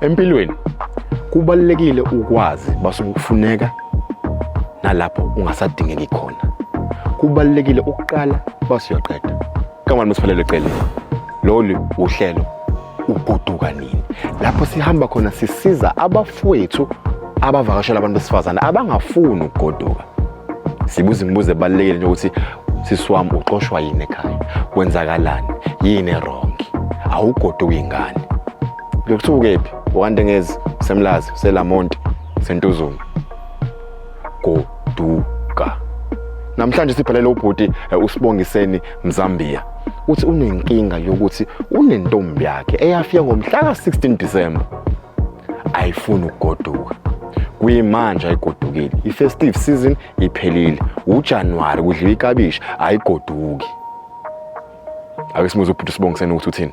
Empilweni kubalulekile ukwazi basuke kufuneka nalapho ungasadingeki khona. Kubalulekile ukuqala basuyoqeda. Kamani musiphelele cele. Lolu uhlelo uguduka nini? Lapho sihamba khona sisiza abafowethu abavakashela abantu besifazane abangafuni ukugoduka. Sibuza imibuzo ebalulekile nje ukuthi sisi wami uxoshwa yini ekhaya? Kwenzakalani? Yini wrong? Awugoduki ingane. Ngikuthiwa ukephi? Wakantengezi, usemlazi, uselamonti, usentuzuma. Goduka. Namhlanje sibhalele ubhuti eh, uSibongiseni Mzambia. Uthi unenkinga yokuthi unentombi yakhe eyafika ngomhla ka-16 December. Ayifuni ukugoduka. Kuyimanje ayigodukile. I-festive season iphelile. UJanuary kudliwa ikabishi ayigoduki. Ake simuze ubhuti uSibongiseni ukuthi uthini.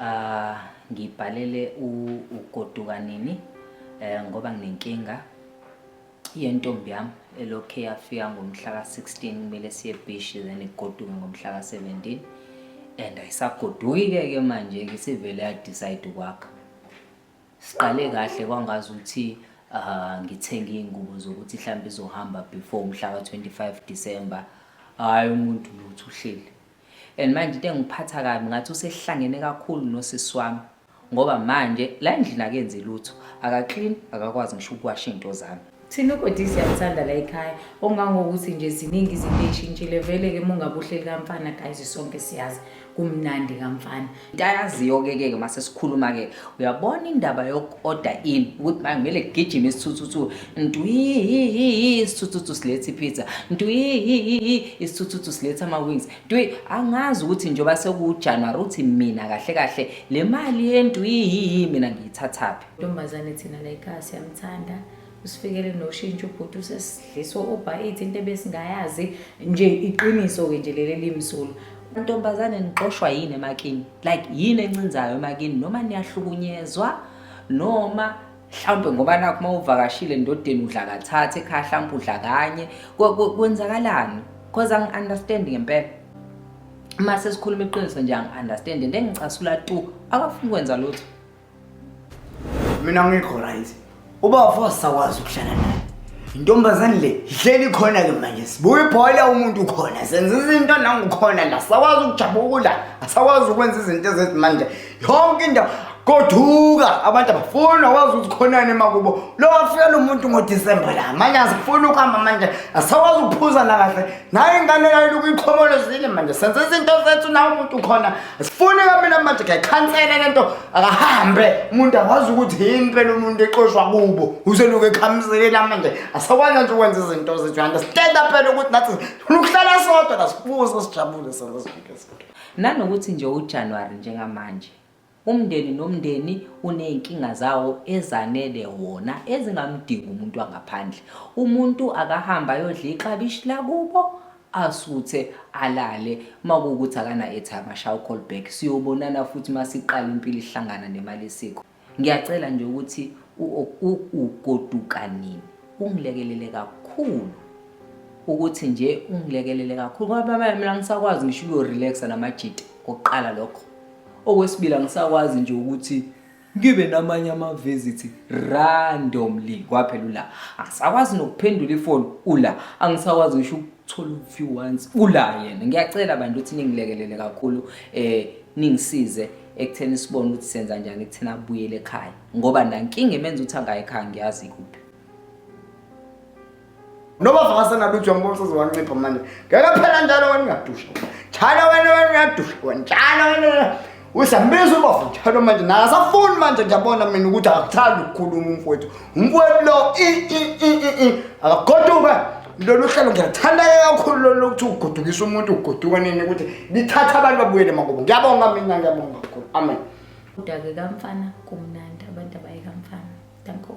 Ah, ngibhalele u- ugoduka nini eh, ngoba nginenkinga yentombi yami elokhe yafika ngomhla ka-16 kumele siye ebhishi then igoduke ngomhla ka-17 and ayisagoduki-ke ke manje-ke isivele yadicide ukwakha siqale kahle kwangazi ukuthi ah, ngithenge iy'ngubo zokuthi mhlawumbe izohamba before umhla ka-25 december hhayi umuntu lutho uhleli And manje into engiphatha kabi ngathi usehlangene kakhulu nosisi wami ngoba manje la endlini akenzi lutho akaclean akakwazi ngisho ukuwasha into zami thina ugodisi siyamthanda la ekhaya ongangokuthi nje ziningi izinto ey'shintshile vele-ke mungabuhleli kamfana guys sonke siyazi kumnandi kamfana into ayaziyo-ke ke uma sesikhuluma-ke uyabona indaba yoku-order in ukuthi manje kumele kugijime isithuthuthu ntwihihihi isithuthuthu siletha ipizza ntwihihihi isithuthuthu siletha ama-wings ntwi angazi ukuthi njengoba sekuwujanuwari ukuthi mina kahle kahle le mali yentwihihi mina ngiyithathaphi ntombazane thina layikasi yamthanda usifikele noshintsho ubhuti usesidliswa ubhayithi into ebesingayazi nje iqiniso-ke nje leli limsulu ntombazane nixoshwa yini emakini like yini encinzayo emakini noma niyahlukunyezwa noma mhlawumbe ngoba nakho uma uvakashile ndodeni udla kathathe ekhaya mhlawumbe udla kanye kwenzakalani because angi-understand ngempela uma sesikhuluma iqiniso nje angi-understand and engicasula tu akafuni kwenza lutho mina ngikho right ubafo wasakwazi ukuhlala naye intombazane le ihleli khona ke manje sibuye ibhola umuntu ukhona senza izinto nangukhona la sakwazi ukujabukula asakwazi ukwenza izinto ezethi manje yonke indawo koduka abantu abafuni awazi ukuthi khonani emakubo lo wafika lo muntu ngodisemba la manje asifuni ukuhamba manje asakwazi ukuphuza nakahle naye ingane yayo ukuyixhomolozile manje senze izinto zethu nawe umuntu khona sifune kamina manje ngiyakhansela lento akahambe umuntu akwazi ukuthi yini phela umuntu exoshwa kubo useluke ekhamzekela manje asakwazi nje ukwenza izinto zethu and sitenda phela ukuthi nathi sifuna ukuhlala sodwa nasibuze sijabule senze zonke izinto nanokuthi nje uJanuary njengamanje Umndeni nomndeni uney'nkinga zawo ezanele wona ezingamdingi umuntu wangaphandle. Umuntu akahambe ayodla iklabishi lakubo asuthe alale makuwukuthi akana-airtime ashaye u-call back siyobonana futhi masiqala impilo ihlangana nemali isikho. Ngiyacela nje ukuthi ugoduka nini ungilekelele kakhulu ukuthi nje ungilekelele kakhulu ngoba mina ngisakwazi ngisho uyo-relaxa namajita kokuqala lokho Okwesibili angisakwazi nje ukuthi ngibe namanye ama-visit randomly kwaphela ula angisakwazi nokuphendula ifoni ula angisakwazi ngisho ukuthola u-view once ula yena ngiyacela bantu ukuthi ningilekelele kakhulu um ningisize ekutheni sibone ukuthi senza njani ekutheni abuyele ekhaya ngoba nankinga imenza ukuthi angayi ekhaya ngiyazi kuphi Noma vasa nalutho ngibona uzowancipha manje. Ngeke phela njalo wena ungadusha. Chana wena wena uyadusha. Wena chana wena. Usambiza ubafu njalo manje naye asafuni manje ngiyabona mina ukuthi akakuthandi ukukhuluma umfowethu. Umfowethu lo i i i i i akagoduka. Lolu hlelo ngiyathanda kakhulu lolu ukuthi ugudukisa umuntu uguduka nini ukuthi lithatha abantu babuyele makubo. Ngiyabonga mina ngiyabonga kakhulu. Amen. Udake kamfana kumnandi abantu abaye kamfana. Danko.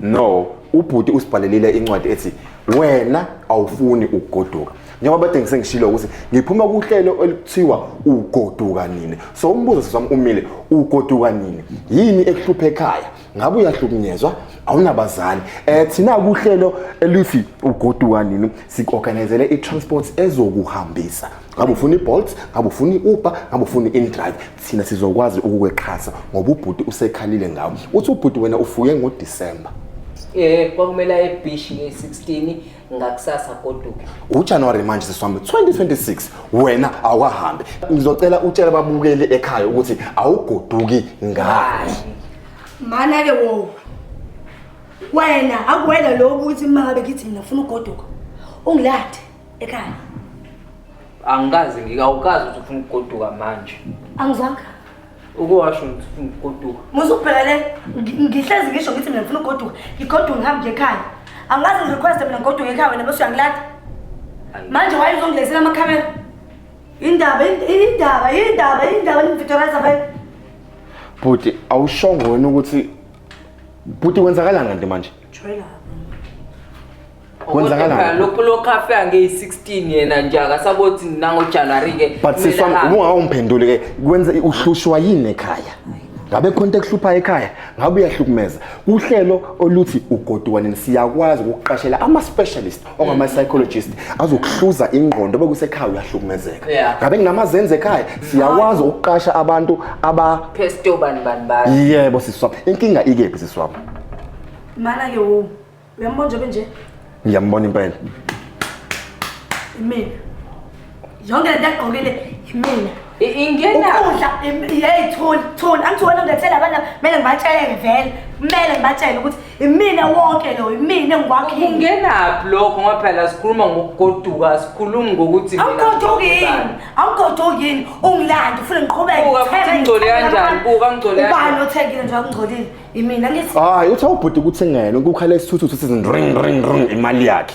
no ubhuti usibhalelile incwadi ethi wena awufuni ukugoduka njengoba bade ngisengishilo ukuthi ngiphuma kuhlelo oluthiwa ugoduka nini so umbuzo sisami umile ugoduka nini yini ekuhluphe ekhaya ngabe uyahlukunyezwa awunabazali eh thina kuhlelo elithi ugoduka nini siorganizele i-transport ezokuhambisa ngabe ufuna i-bolt ngabe ufuna i-uber ngabe ufuna i-indrive thina sizokwazi ukukwexhasa ngoba ubhuti usekhalile ngawo uthi ubhuti wena ufuye ngodisemba eh kwakumele aye ebishi nge-16 ngakusasa goduke ujanuwari manje sesihambe 2026 wena awahambe ngizocela utshela babukeli ekhaya ukuthi awugoduki ngani mana ke wo wena akuwena lo ukuthi uma ngabe ngithi mina ngifuna ugoduka ungilade ekhaya angikaze ngikawukazi ukuthi ufuna ukugoduka manje angizwanga ukuwasho ngithi ufuna ukugoduka musa ubheka le ngi- ngihlezi ngisho ngithi mina ngifuna ugoduka ngigoduka ngihambe ngiye ekhaya angazi ngirequeste mina ngigoduka ekhaya wena bese uyangilada Ayi. manje waye uzongilezela amakhamera indaba ind- indaba indaba indaba nimvitoriza vele bhuti awushongo wena ukuthi bhuti kwenzakalanga nti manje Jwayela. Kwenzakalani? Kodwa lokhu lokhu afika ngeyi-16 yena nje akasabothi nangojanuary ke but kumele siswami ahambe. ubungawumphenduli ke kwenza uhlushwa yini ekhaya ngabe khona into ekuhluphayo ekhaya ngabe uyahlukumeza kuhlelo oluthi ugoduka nini siyakwazi ukuqashela ama-specialist ongama psychologist azokuhluza ingqondo bekusekhaya uyahlukumezeka ngabe nginamazenze ekhaya siyakwazi ukuqasha abantu aba pesto bani bani bani yebo siswami inkinga ikephi siswami mana ke wo uyambona nje benje ngiyambona impela imina yonke lento agqokile yimina ingena ukudla yeyi thuli thuli angithi wena ungethela abana kumele ngibatshele vele kumele ngibatshele ukuthi imina wonke lo imina engikwakhile ungenaphi lokho ngoba phela sikhuluma ngokugoduka sikhulumi ngokuthi awugoduki yini awugoduki yini ungilanda ufuna ngiqhubekengcole kanjani buka ngicole ubani othekile nje akungcolile imina ngithi hayi uthi awubhuti ukuthi ngena ukukhala isithuthu sithi ring ring ring imali yakhe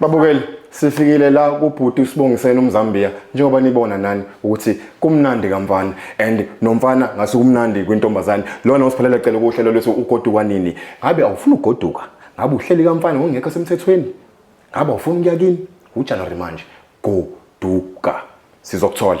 babukeli sifikile la kubhuti usibongiseni umzambiya njengoba nibona nani ukuthi kumnandi kamfana and nomfana ngase kumnandi kwintombazane lona usiphalela cela ukuhlelo lwethu ugoduka nini ngabe awufuni ugoduka ngabe uhleli kamfana ngongekho semthethweni ngabe awufuni ukuya kini ujanuary manje goduka sizokuthola